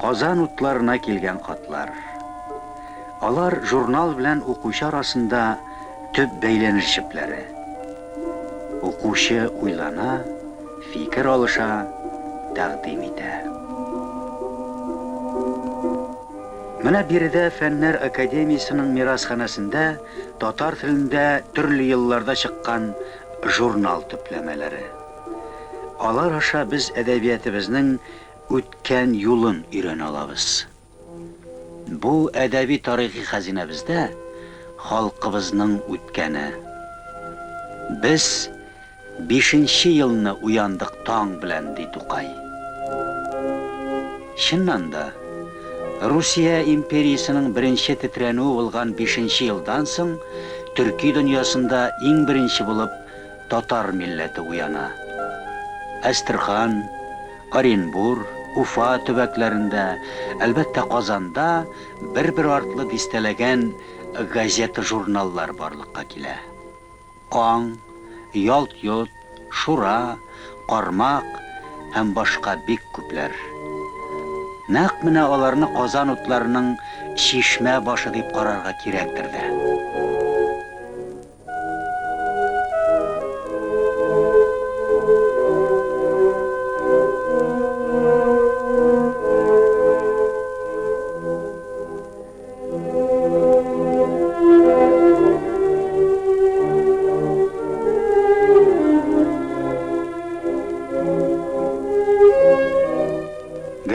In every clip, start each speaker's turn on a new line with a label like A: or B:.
A: Казан утларына килгән хатлар. Алар журнал белән укучы арасында төп бәйләнеш җепләре. Укучы уйлана, фикер алыша, тәкъдим итә. Менә биредә Фәннәр академиясенең мирасханәсендә татар телендә төрле елларда чыккан журнал төпләмәләре. Алар аша без әдәбиятебезнең үткән юлын өйрәнә алабыз. Бу әдәби-тарихи хәзинәбездә халкыбызның үткәне. Без бишенче елны уяндык таң белән, ди Тукай. Чыннан да, Русия империясенең беренче тетрәнүе булган бишенче елдан соң төрки дөньясында иң беренче булып татар милләте уяна. Әстерхан, Оренбур, Уфа төбәкләрендә, әлбәттә, Казанда бер-бер артлы дистәләгән газета-журналлар барлыкка килә. Аң, Ялт-йот, Шура, Кармак һәм башка бик күпләр. Нәкъ менә аларны Казан утларының чишмә башы дип карарга кирәктер дә.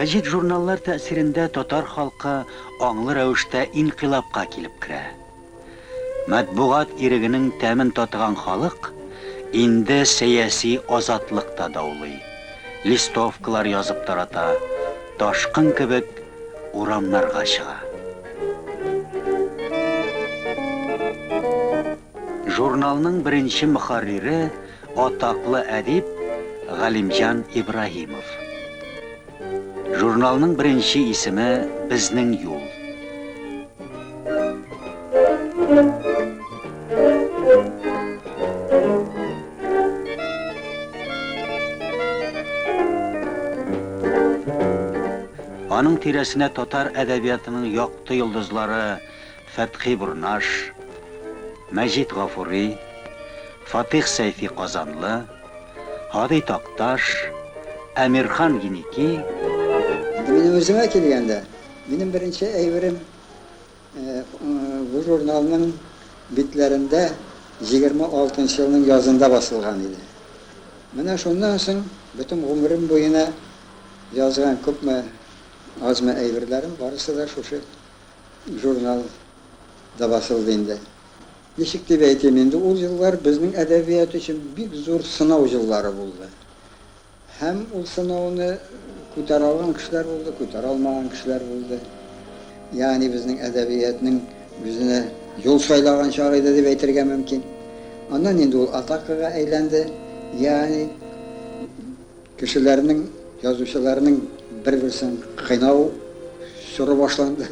A: Гәҗит журналлар тәэсирендә татар халкы аңлы рәвештә инкыйлабка килеп керә. Матбугат ирегенең тәмен татыган халык инде сәяси азатлык та даулый, листовкалар язып тарата, ташкын кебек урамнарга чыга. Журналның беренче мөхәррире, атаклы әдип Галимҗан Ибраһимов. Журналның беренче исеме Безнең юл. Аның тирәсенә татар әдәбиятының якты йолдызлары Фәтхи Бурнаш, Мәҗит Гафури, Фатих Сәйфи Казанлы, Һади Такташ, Әмирхан Еники. Инде
B: минем үземә килгәндә, минем беренче әйберем бу журналның битләрендә 26 нчы елның язында басылган иде. Менә шуннан соң бөтен гомерем буена язган күпме, азмы әйберләрем барысы да шушы журнал да басылды инде. Ничек дип әйтим инде, ул еллар безнең әдәбият өчен бик зур сынау еллары булды. Һәм ул сынауны күтәрә алган кешеләр булды, күтәрә алмаган кешеләр булды. Ягъни безнең әдәбиятның үзенә юл сайлаган чагы иде дип әйтергә мөмкин. Аннан инде ул атакага әйләнде. Ягъни. Кешеләрнең, язучыларның бер-берсен кыйнау чоры башланды.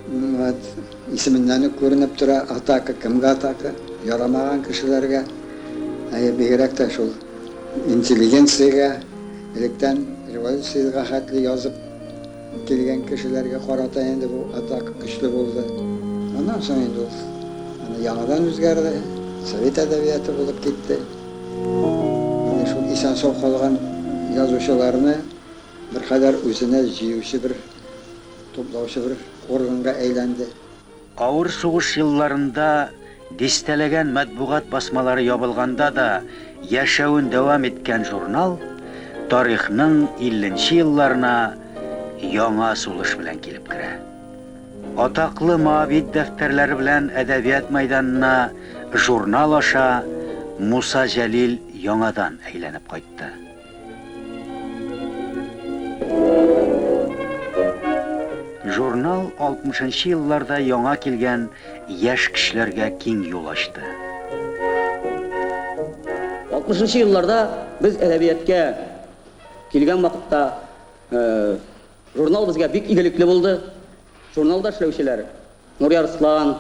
B: Вот. Исеменнән үк күренеп тора, атака, кемгә атака? Ярамаган кешеләргә. Әйе, бигрәк тә шул интеллигенциягә, электән революциягә хәтле язып килгән кешеләргә карата инде бу атака көчле булды. Аннан соң инде ул яңадан үзгәрде, совет әдәбияты булып китте. Менә шул исән-сау калган язучыларны беркадәр үзенә җыючы бер, туплаучы бер органга әйләнде. Авыр
A: сугыш елларында дистәләгән матбугат басмалары ябылганда да яшәвен дәвам иткән журнал тарихның илленче елларына яңа сулыш белән килеп керә. Атаклы Моавит дәфтәрләре белән әдәбият мәйданына журнал аша Муса Җәлил яңадан әйләнеп кайтты. Журнал 60 елларда яңа килгән яшь кешеләргә киң юл ачты.
C: 60 елларда без әдәбияткә килгән вакытта э, Журнал безгә бик игелекле булды. Журналда эшләүчеләр Нурия Арслан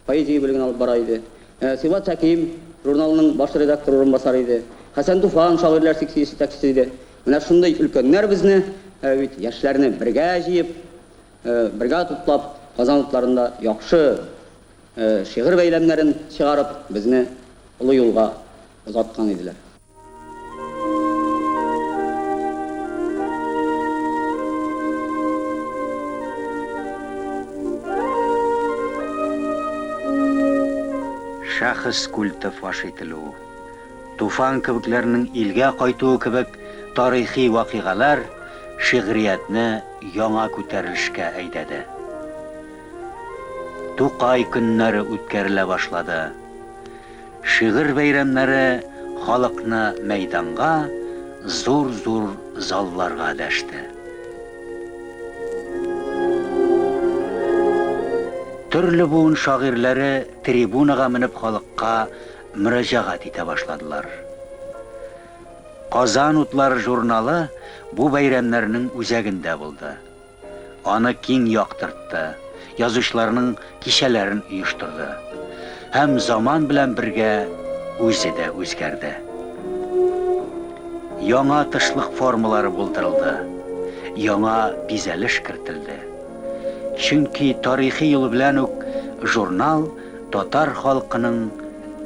C: поэзия бүлеген алып бара иде. Э, Сибгат Хәким журналының баш редактор урынбасары иде. Хәсән Туфан шагыйрьләр секциясе җитәкчесе иде. Менә шундый өлкәннәр безне, э, бит яшьләрне бергә җыеп, э, бергә туплап, Казан утларында яхшы шигырь бәйләмнәрен чыгарып, безне олы юлга озаткан иделәр.
A: Шәхес культы фаш ителү, Туфан кебекләрнең илгә кайтуы кебек тарихи вакыйгалар шигъриятне яңа күтәрелешкә әйдәде. Тукай көннәре үткәрелә башлады. Шигырь бәйрәмнәре халыкны мәйданга, зур-зур залларга дәште. Төрле буын шагыйрьләре трибунага менеп халыкка мөрәҗәгать итә башладылар. Казан утлары журналы бу бәйрәмнәрнең үзәгендә булды. Аны киң яктыртты, язучыларның кичәләрен оештырды. Һәм заман белән бергә үзе дә үзгәрде. Яңа тышлык формалары булдырылды, яңа бизәлеш кертелде. Чөнки тарихи юл белән үк журнал татар халкының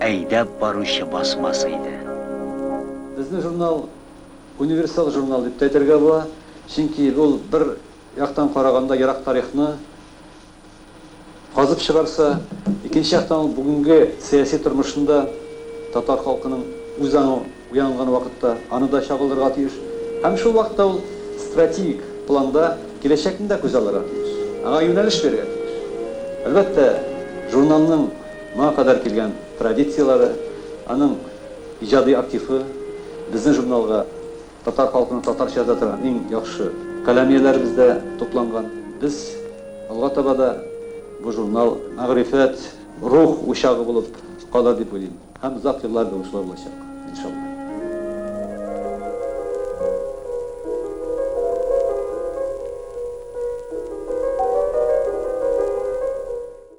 A: әйдәп баручы басмасы иде. Безнең
D: журнал Универсал журнал дип тә әйтергә була, чөнки ул бер яктан караганда ерак тарихны казып чыгарса, икенче яктан ул бүгенге сәяси тормышында татар халкының үз аңы уянган вакытта аны да чагылдырырга тиеш һәм шул вакытта ул стратегик планда киләчәкне дә күз алырга тиеш, аңа юнәлеш бирергә тиеш. Әлбәттә, журналның моңа кадәр килгән традицияләре, аның. Иҗади активы безнең журналга татар халкының татарча яза торган иң яхшы каләм ияләребез дә тупланган. Без алга таба да бу журнал мәгърифәт, рух учагы булып калыр дип уйлыйм һәм озак еллар буе шулай булачак, иншалла.